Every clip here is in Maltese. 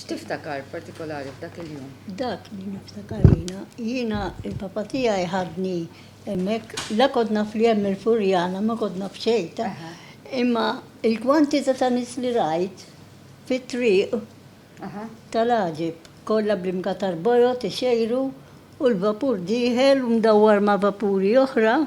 X'tiftakar partikolari f'dak il-jum? Dak li niftakar jiena, jiena il-papa tiegħi ħadni hemmhekk, la kont naf li hemm il-Furjana, ma kont naf xejn ta'. Imma il-kwantità ta' nies li rajt fit-triq tal-għaġeb, kollha bl-imgatar bojod ixejru u l-vapur dieħel u mdawwar ma' vapuri oħra.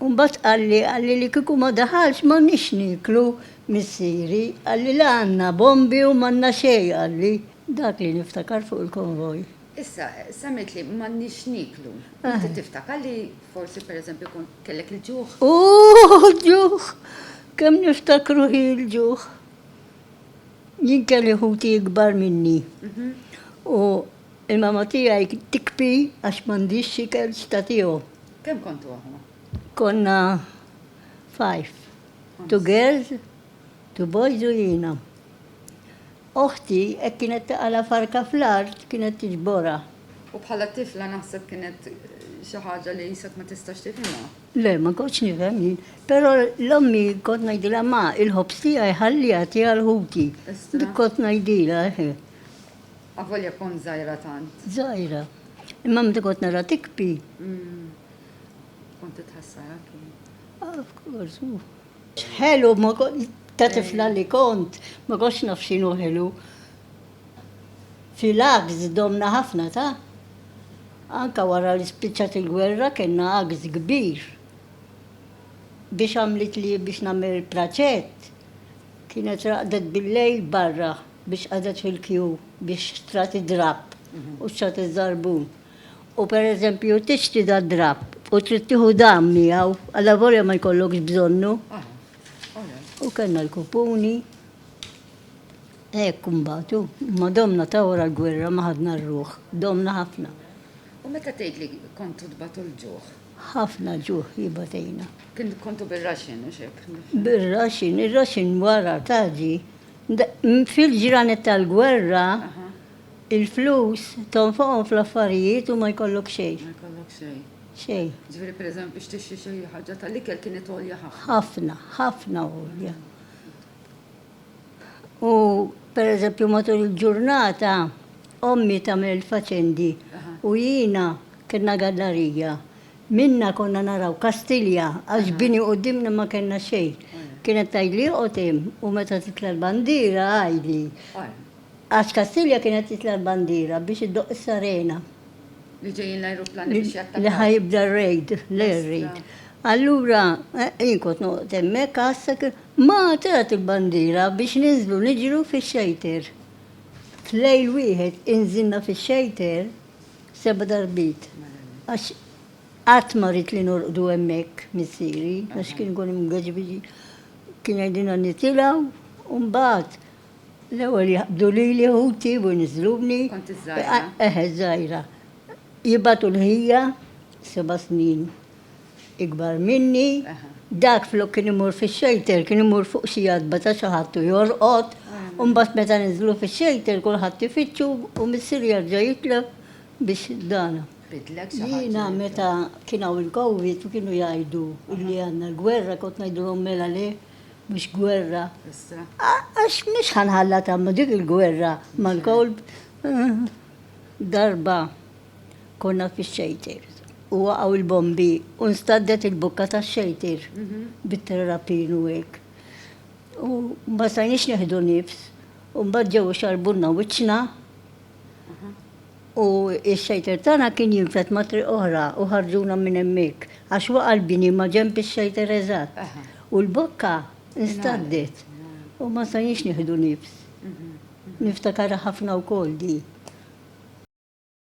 U mbagħad qalli, qalli li kieku ma daħalx m'għandniex nieklu, missieri, qalli la għandna bombi u m'għandna xejn, qalli. Dak li niftakar fuq il-konvoj. Issa, semmejtli m'għandniex nieklu. Inti tiftakar li forsi pereżempju kont kellek il-ġuħ? Ooh, ġuħ! Kemm niftakru hi l-ġuħ. Jien kelli ħuti ikbar minni u. Il-mamma tiegħi tikbi għax m'għandhiex x'ikel x'tagħtihom. Kemm kontu aħwa? Konna five. Two girls, two boys u jiena. Oħti hekk kienet taqala' farka fl-art kienet tiġborha. U bħala tifla naħseb kienet xi ħaġa li qisek ma tistax tifhimha. Le, ma kontx nifhem jien. Però l-ommi kont ngħidilha ma, il-ħobż tiegħi ħalliha tiegħi għal ħuti. Dik kont ngħidilha, eħe. Avolja kont żgħira tant. Żgħira. Imma meta kont nara tikbi. Kont titħassar anki. Ah, of course, hu. Ħelu ma ta' tifla li kont, ma kontx naf x'inhu ħelu. Fil-għaks domna ħafna ta'. Anka wara li spiċċat il-gwerra kellna għaks kbir. Biex għamlitli biex nagħmel praċett, kienet raqdet bil-lejl barra biex qagħdet fil-kju biex xtrat id-drapp u xtrat iż-żarbun u pereżempju tixtri dad-drapp u trid tieħu dan miegħu allavolja ma jkollokx bżonnu. U kellna l-kupuni. Hekk imbagħad hu, ma domna ta' wara l-gwerra ma ħadna r-ruħ, domna ħafna. U meta tgħid li kontu tbatu l-ġuħ? Ħafna ġuħ jibatejna. Kien kontu bir-raxin u xek? Bir-raxin, ir-raxin wara taġi Fil-ġranet tal-gwerra, il-flus tonfoqhom fl-affarijiet u ma jkollok xejn. Ma jkollok xejn. Xejn. Ġifieri pereżempju biex tixtri xi ħaġa tal-ikel kienet għolja ħafna. Ħafna, ħafna għolja. U pereżempju matul il-ġurnata ommi tagħmel il-faċendi u jiena kellna gallarija. Minna konna naraw Kastilja għax bini quddiemna ma kellna xejn. Kienet tgħidli oqgħod hemm u meta titla' l-bandiera għidli. Għax Kastilja kienet titla' l-bandiera biex iddoqq is-sarena. Li ġejjin l-ajruplani biex jattakaw. Li ħa jibda r-raid, l-air raid. Allura jien kont noqgħod hemmhekk għassa kif ma tlat il-bandiera biex ninżlu niġru fix-xejter. F'lejl wieħed inżilna fix-xejter. Seba' darbiet. Għax qatt ma ridt li norqdu hemmhekk missieri, għax kien ikun imgeġbiġi. Kien jgħidilna nitilgħu u mbagħad l-ewwel jaqbdu lili ħuti u jniżżluni. Kont iż-żgħira? Eħe, iż-żgħira. Jibgħatu l-ħija, seba' snin. ikbar minni, dak flok kien imur fix-xejter kien imur fuq xi għatba ta' xi ħadd u jorqod, u mbagħad meta niżlu fix-xejter kulħadd ifittxu u missier jerġa' jitleb biex dan. Jiena meta kien hawn il-Covid u kienu jgħidu li għandna l-gwerra kont ngħidilhom mela le mhux gwerra. Għax mhux ħa nħallatha dik il-gwerra mal-kolb. Darba. Konna fix-xejtir u waqgħu il-bombi u nstaddet il-bukka tax-xejtir bit-terrapin u hekk. U ma stajniex neħdu nifs u mbagħad ġew ixarrbulna wiċċna u x-xejtir tagħna kien jinfed ma' triq oħra u ħarġuna minn hemmhekk għax waqa' l-bini maġenb ix-xejtir eżatt u l-bokka nstaddet u ma stajniex nieħdu nifs. Niftakarha ħafna wkoll din.